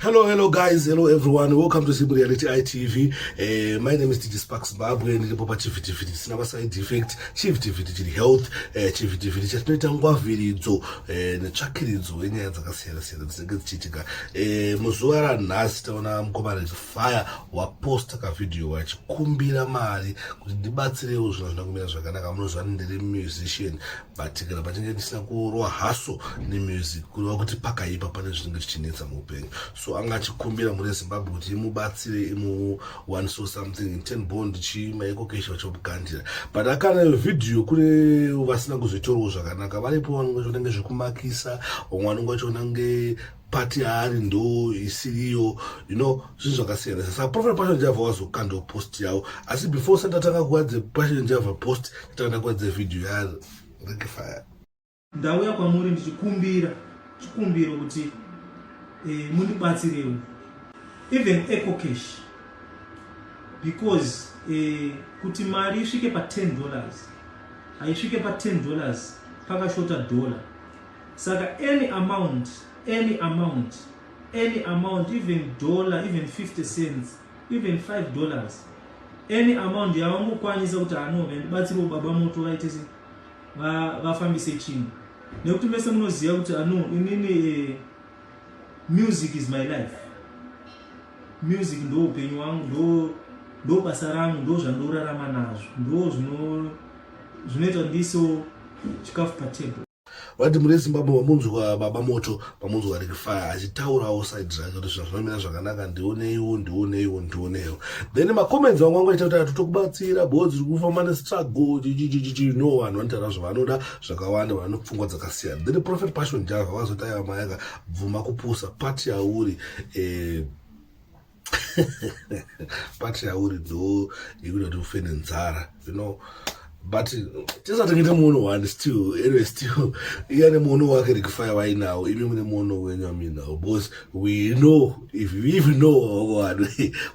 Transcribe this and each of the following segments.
Hello, hello guys, hello everyone. Welcome to Simple Reality ITV. Uh, eh, my name is DJ Spark Zimbabwe and ndipo pachivitiviti tisina maside effect. Chivitiviti chiri health, uh, eh, chivitiviti chatinoita ngwaviridzo uh, eh, netsvakiridzo yenyaya dzakasiyana siyana dzinenge dzichiitika. Uh, muzuva ranhasi taona mukomana Fire waposta kavideo wachikumbira mari kuti ndibatsirewo zvinhu zvinokumira zvakanaka. Munozvani ndiri musician. but kana patinge tisina kurowa haso nemusic kureva kuti pakaipa pane zvinenge zvichinetsa muupenyu so anga achikumbira mune zimbabwe kuti imubatsire imu one so something in ten bond chimaekokesha vachomukandira but akana vhidhiyo kune vasina kuzvitorwo zvakanaka varipo vanonge zvinenge zvekumakisa vamwe vanonge vachionange pati yaari ndo isiriyo you know zvinhu zvakasiyana saka profile passion java wazokandwa post yavo asi before usati atanga kuadze passion java post atanga ndakuadze video yaari rekifaya ndauya kwamuri ndichikumbira chikumbiro kuti eh, mundibatsirewo even ecocash because eh, kuti mari isvike pa10 dollars haisvike pa10 dollars pakashota dollar Saka any amount, any amount, any amount, even dollar, even 50 cents, even 5 dollars, any amount yavangokwanisa kuti anove ndibatsiriwo baba moto vaite se vafambise chinhu nekuti mese munoziva kuti ano ah, inini eh, music is my life music ndo upenyu wangu ndo ndo basa rangu ndo zvandinorarama nazvo ndo zvinoita ndiso chikafu patable vati muri zimbabwe mamunzwa baba moto mamunzwa rikifaya achitaurawo side zvake kuti zvinhu zvinomira zvakanaka ndioneiwo ndioneiwo ndioneiwo then macomments vangu vangu aita kuti ati tokubatsira bho dziri kufamba nestruggle chichichichichi no vanhu vanotaura zvavanoda zvakawanda vane pfungwa dzakasiyana then prophet passion java vakazotaiva mayaka bvuma kupusa pati yauri eh, but yauri do yekuti kuti ufe nenzara you know but tisatengete muono one still anyway still iye ane muono wake rekufaya vainawo imi mune muono wenyu aminawo because we know if we even know wavo vanhu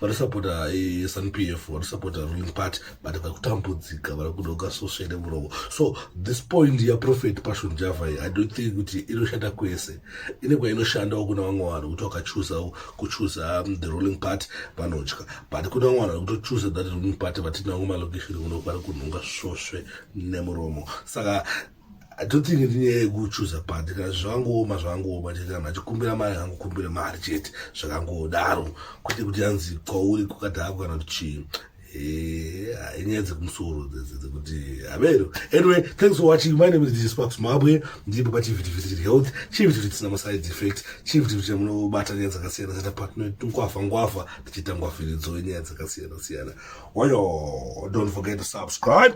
vanosapota eh, sun p f vanosapota ruling party but vari kutambudzika vari kudoka sosvene muromo so this point yaprofet passion javai i don't think kuti inoshanda kwese ine kwainoshandawo kuna vamwe vanhu kuti wakachuza kuchuza um, the ruling party vanotya but kuna vamwe vanhu vakutochuza that ruling party vatinango malokesheni kuno kwari kunhonga svosve nemuromo saka atotingi ndinyaya yekuchuza pati kana zvangooma zvangooma chete kana achikumbira mari angokumbira mari chete zvakangodaro kwete kuti anzi kwauri kukadhako kana kuti chii Eh, inyaya dzekumusoro dzekuti havero anyway thanks for watching my name is dj sparks mabwe ndiripo pachivhitivhiti chiri health chivhitivhiti chisina maside effect chivhitivhiti chamunobata nyaya dzakasiyana siyana patinoitungwafa ngwafa tichiita ngwafiridzo yenyaya dzakasiyana siyana wayo don't forget to subscribe